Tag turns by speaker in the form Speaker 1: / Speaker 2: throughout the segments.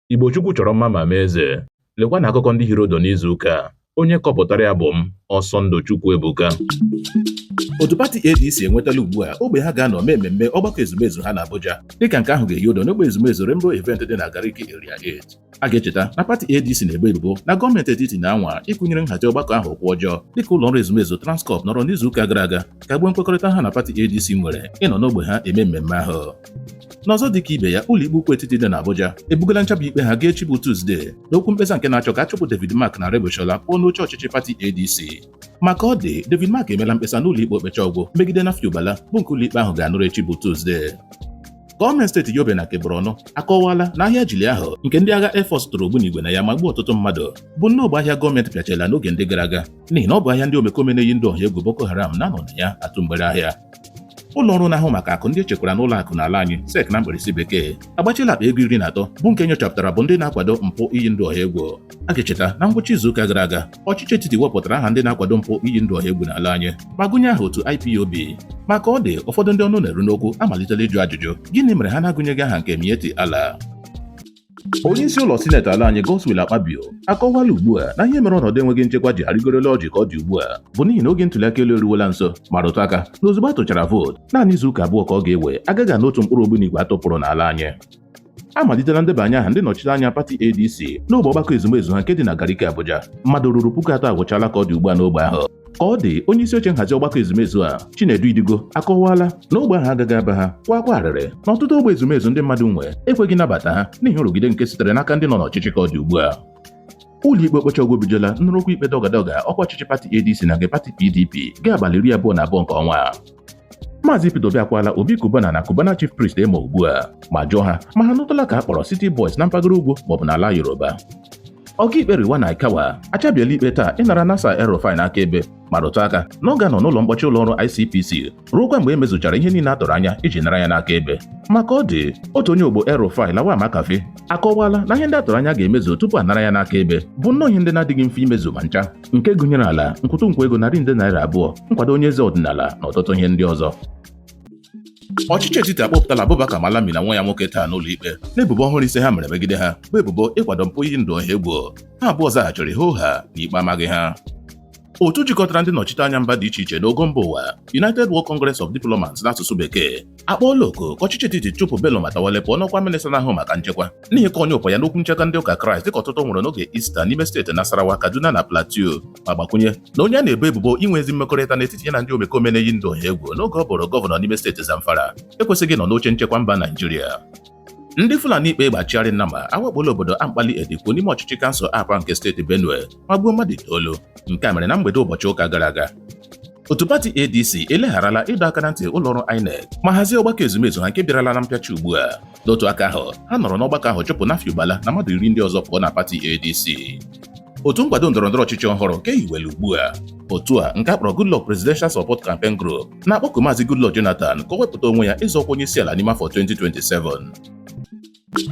Speaker 1: Igbo Chukwu chọrọ mma ma mee eze. Lekwa na akụkọ ndị hiri ụdụ n'izu ụka a. Onye kọpụtara ya bụ m, Ọsọndụ Chukwu
Speaker 2: Ebuka. Otu pati ADC enwetala ugbu a ogbe ha ga-anọ mee mmemme ọgbakọ ezumezu ha na Abuja dịka nke ahụ ga-ehi ụdụ n'ogbe ezumezu Rainbow Event dị na Gariki Area 8. A ga-echeta na pati ADC na-ebo ebubo na gọọmenti etiti na-anwa ịkụnyere nhazi ọgbakọ ahụ ụkwụ ọjọọ dịka ụlọ ọrụ ezumezu Transcorp nọrọ n'izuụka gara aga kagbuo nkwekọrịta ha na pati ADC nwere ịnọ n'ogbe ha eme mmemme ahụ. N'ọzọ dịka ibe ya, ụlọikpe ukwu etiti dị n'Abuja ebugala nchaba ikpe ha gaa echi bụ Tuzdee n'okwu mkpesa nke na-achọ ka a chụpụ David Mark na Aregbesola pụọ n'oche ọchịchị pati ADC. Ma ka ọ dị, David Mark emela mkpesa n'ụlọikpe okpecha ọgwụ megide Nafiu Bala bụ nke ụlọikpe ahụ ga-anụrụ echi bụ Tuzdee. Gọọmenti steeti Yobe na nke Borno akọwala na ahịa Jilli ahụ nke ndị agha Air Force tụrụ ogbunigwe na ya ma gbuo ọtụtụ mmadụ bụ nnọọ bụ ahịa gọọmenti pịachiela n'oge ndị gara aga n'ihi na ọ bụ ahịa ndị omekome na-eyi ndụ ọha egwu Boko Haram na-anọ na ya atụ mgbere ahịa ụlọ ọrụ na-ahụ maka akụ ndị e chekwara n'ụlọ akụ n'ala anyị SEC na mkpirisi bekee agbachiela akpa ego iri na atọ bụ nke nyochapụtara bụ ndị na-akwado mpụ iyi ndụ ọha egwu a ga-echeta na ngwụcha izuụka gara aga ọchịchị etiti wepụtara aha ndị na-akwado mpụ iyi ndụ ọha egwu n'ala anyị ma gụnye aha otu IPOB ma ka ọ dị ụfọdụ ndị ọnụ na-eru n'okwu amalitela ịjụ ajụjụ gịnị mere ha na-agụnyeghị aha nke Miyetti Allah onye isi ụlọ sineti ala anyị Godswill Akpabio akọwala ugbu a na ihe mere ọnọdụ enweghị nchekwa ji arịgoro elu ọjị ka ọ dị ugbu a bụ n'ihi na oge ntụliaka elu eruwela nso ma rụtụ aka na ozugbo a tụchara vootu naanị izu ụka abụọ ka ọ ga-ewe a gaghị anụ otu mkpụrụ ogbunigwe a tụpụrụ n'ala anyị amalitela ndebanye aha ndị nọchiri anya pati ADC n'ogbe ọgbakọ ezumezu ha nke dị na Gariki Abuja mmadụ ruru puku atọ agwụchala ka ọ dị ugbu a n'ogbe ahụ ka ọ dị onye isi oche nhazi ọgbakọ ezumezu a Chinedu Idigo akọwaala na ogbe ahụ agaghị aba ha kwaa akwa arịrị na ọtụtụ ogbe ezumezu ndị mmadụ nwe ekweghị nabata ha n'ihi nrụgide nke sitere n'aka ndị nọ n'ọchịchị ka ọ dị ugbu a ụlọikpe okpecha ọgwụ ebugala nnụrụ okwu ikpe dọgadọga ọkwa ọchịchị pati ADC na nke pati PDP gaa abalị iri abụọ na abụọ nke ọnwa a Maazị Peter Obi akwala Obi Cubana na Cubana Chief Priest emo ugbu a ma jụọ ha ma ha nụtụla ka a kpọrọ City Boys na mpaghara ugwu maọbụ n'ala Yoruba Ọkaikpe Rilwan Aikawa achabiela ikpe taa ịnara Nasir El-Rufai n'aka ebe ma rụtụ aka na ọ ga-anọ n'ụlọ mkpọchi ụlọ ọrụ ICPC ruokwa mgbe e mezuchara ihe niile a tụrụ anya iji nara ya n'aka ebe ma ka ọ dị otu onye ogbo El-Rufai Lawal Makarfi akọwala na ihe ndị a tụrụ anya ga-emezu tupu a nara ya n'aka ebe bụ nnọọ ihe ndị na-adịghị mfe imezu ma ncha nke gụnyere ala nkwụtụ nkwa ego narị nde naira abụọ nkwado onye eze ọdịnala na ọtụtụ ihe ndị ọzọ ọchịchị etiti akpọpụtala Abubakar Malami na nwa ya nwoke taa n'ụlọ ikpe n'ebubo ọhụrụ ise ha mere megide ha bụ ebubo ịkwado mpụ iyi ndụ ọha egwu ha abụọ zaghachiri hoo haa na ikpe amaghị ha otu jikọtara ndị nnọchite anya mba dị iche iche n'ogo mba ụwa United World Congress of Diplomats n'asụsụ bekee akpọọla oku ka ọchịchị etiti chụpụ Bello Matawalle pụọ n'ọkwa minista na-ahụ maka nchekwa n'ihi ịkọ ọnyụpa ya n'okwu nchekwa ndị ụka kraịst dịka ọtụtụ nwụrụ n'oge ista n'ime steeti nasarawa kaduna na plateau ma gbakwunye na onye a na-ebo ebubo inwe ezi mmekọrịta n'etiti ya na ndị omekome na-eyi ndụ ọha egwu n'oge ọ bụrụ gọvanọ n'ime steeti zamfara ekwesịghị ịnọ n'oche nchekwa mba naijiria ndị fulani kpa egbe achịgharị nnama awakpola obodo ankpali edikwu n'ime ọchịchị kansụl apa nke steeti benue ma gbuo mmadụ itoolu nke a mere na mgbede ụbọchị ụka gara aga otu pati adc elegharala ịdọ aka na ntị ụlọọrụ inec ma hazie ọgbakọ ezumezu ha nke bịarala na mpịachi ugbu a n'otu aka ahụ ha nọrọ n'ọgbakọ ahụ chụpụ Nafiu Bala na mmadụ iri ndị ọzọ pụọ na pati ADC otu nkwado ndọrọndọrọ ọchịchị ọhụrụ ka e hiwere ugbu a otu a nke a kpọrọ Goodluck Presidential Support Campaign Group na-akpọku Maazị Goodluck Jonathan ka o wepụta onwe ya ịzọ ọkwa onye isi ala n'ime afọ 2027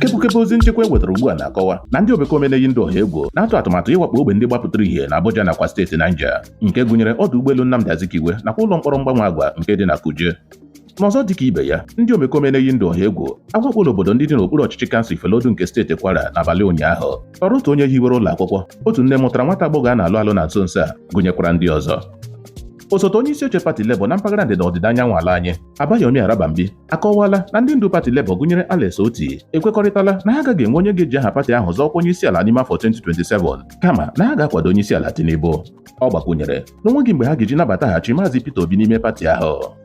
Speaker 2: kepụkepụ ozi nchekwa e wetara ugbu a na-akọwa na ndị omekome na-eyi ndụ ọha egwu na-atụ atụmatụ ịwakpo ogbe ndị gbapụtara ihe na Abuja nakwa steeti Niger nke gụnyere ọdụ ụgbọelu Nnamdi Azikiwe nakwa ụlọ mkpọrọ mgbanwe agwa nke dị na Kuje N'ọzọ dịka ibe ya, ndị omekome na-eyi ndụ ọha egwu awakpola obodo ndị dị n'okpuru ọchịchị kansụl Ifelodun nke steeti Kwara n'abalị ụnyaahụ tọrọ otu onye hiwere ụlọ akwụkwọ, otu nne mụtara nwata agbọghọ a na-alụ alụ na nso nso a, gụnyekwara ndị ọzọ. Osote onye isi oche pati Labour na mpaghara ndịda ọdịda anyanwụ ala anyị, Abayomi Arabambi, akọwaala na ndị ndu pati Labour gụnyere Alex Otti ekwekọrịtala na ha agaghị enwe onye ga-eji aha pati ahụ zọọ ọkwa onye isi ala n'ime afọ 2027 kama na ha ga-akwado onye isi ala Tinubu. Ọ gbakwunyere na o nweghị mgbe ha ga-eji nabataghachi Maazị Peter Obi n'ime pati ahụ.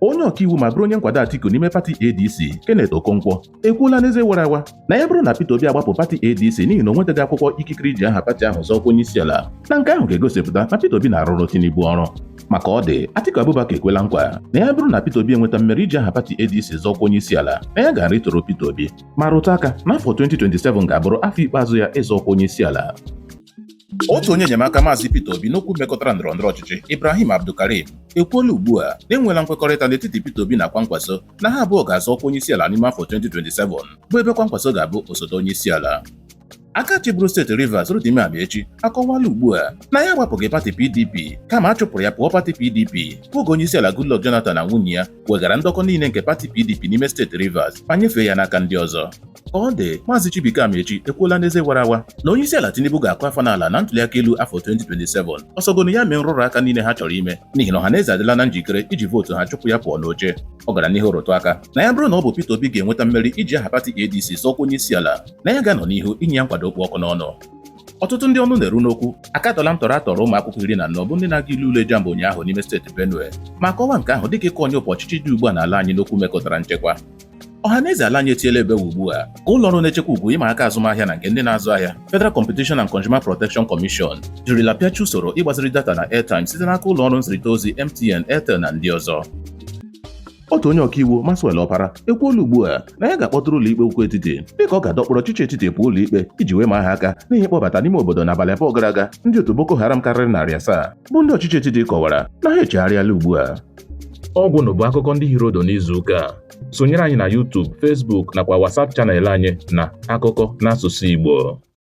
Speaker 2: onye ọkaiwu ma bụrụ onye nkwado Atiku n'ime pati ADC Kenneth Okonkwo ekwuola n'eze wara awa na ya bụrụ na Peter Obi agbapụ pati ADC n'ihi na o nwetaghị akwụkwọ ikikere iji aha pati ahụ zọọ ọkwa onye isi ala na nke ahụ ga-egosipụta na Peter Obi na-arụrụ Tinubu ọrụ ma ka ọ dị Atiku Abubakar ekwela nkwa na ya bụrụ na Peter Obi enweta mmeri iji aha pati ADC zọọ ọkwa onye isi ala na ya ga-arịtụrụ Peter Obi ma rụtụ aka na afọ 2027 ga-abụrụ afọ ikpeazụ ya ịzọ ọkwa onye isi ala otu onye enyemaka maazị Peter Obi n'okwu mekọtara ndọrọ ndọrọ ọchịchị Ibrahim Abdulkarim ekwuola ugbu a na e nweela nkwekọrịta n'etiti Peter Obi na Kwankwaso na ha abụọ ga-azọ ọkwa onyeisiala n'ime afọ 2027 bụ ebe Kwankwaso ga-abụ osote onyeisiala aka chịburu steeti Rivers Rotimi Amaechi akọwala ugbu a na ya agbapụghị pati PDP kama a chụpụrụ ya pụọ pati PDP bụ oge onyeisiala Goodluck Jonathan na nwunye ya weghara ndọkọ niile nke pati PDP n'ime steeti Rivers ma nyefee ya n'aka ndị ọzọ Ka ọ dị, Maazị Chibuike Amaechi ekwuola n'eze wara awa na onyeisiala Tinubu ga-akụ afọ n'ala na ntuliaka elu afọ 2027 ọ sọgonu ya mee nrụrụ aka niile ha chọrọ ime n'ihi na ọhaneze adịla na njikere iji vootu ha chụpụ ya pụọ n'oche ọ gara n'ihu rụtụ aka na ya bụrụ na ọ bụ Peter Obi ga-enweta mmeri iji aha pati ADC zọọ ọkwa onyeisiala na ya ga-anọ n'ihu inye ya nkwado ọkpụ ọkụ n'ọnụ ọtụtụ ndị ọnụ na-eru n'okwu akatọla ntọrọ a tọrọ ụmụ akwụkwọ iri na anọ bụ ndị na-aga ile ule JAMB ụnyaahụ n'ime steeti Benue ma kọwaa nke ahụ dịka ịkọ ọnyụpa ọchịchị dị ugbu a n'ala anyị n'okwu mekọtara nchekwa Ọhaneze ala anyị etiela ebe ugbu a ka ụlọ ọrụ na-echekwa ugwu ịma aka azụmahịa na nke ndị na-azụ ahịa Federal Competition and Consumer Protection Commission jirila pịachi usoro ịgbaziri data na airtime site n'aka ụlọ ọrụ nzirịta ozi MTN, Airtel na ndị ọzọ. otu onye ọkaiwu Maxwell Opara ekwuola ugbu a na ya ga-akpọtụrụ ụlọikpe ukwu etiti dịka ọ ga-adọkpụrụ ọchịchị etiti pụọ ụlọikpe iji wee maa ha aka n'ihi ịkpọbata n'ime obodo n'abalị abụọ gara aga ndị otu Boko Haram karịrị narị asaa bụ ndị ọchịchị etiti kọwara na ha echegharịala ugbu a ọgwụnụ
Speaker 1: bụ akụkọ ndị hiri ụdụ n'izu ụka a sonyere anyị na YouTube Facebook nakwa WhatsApp channel anyị na akụkọ n'asụsụ Igbo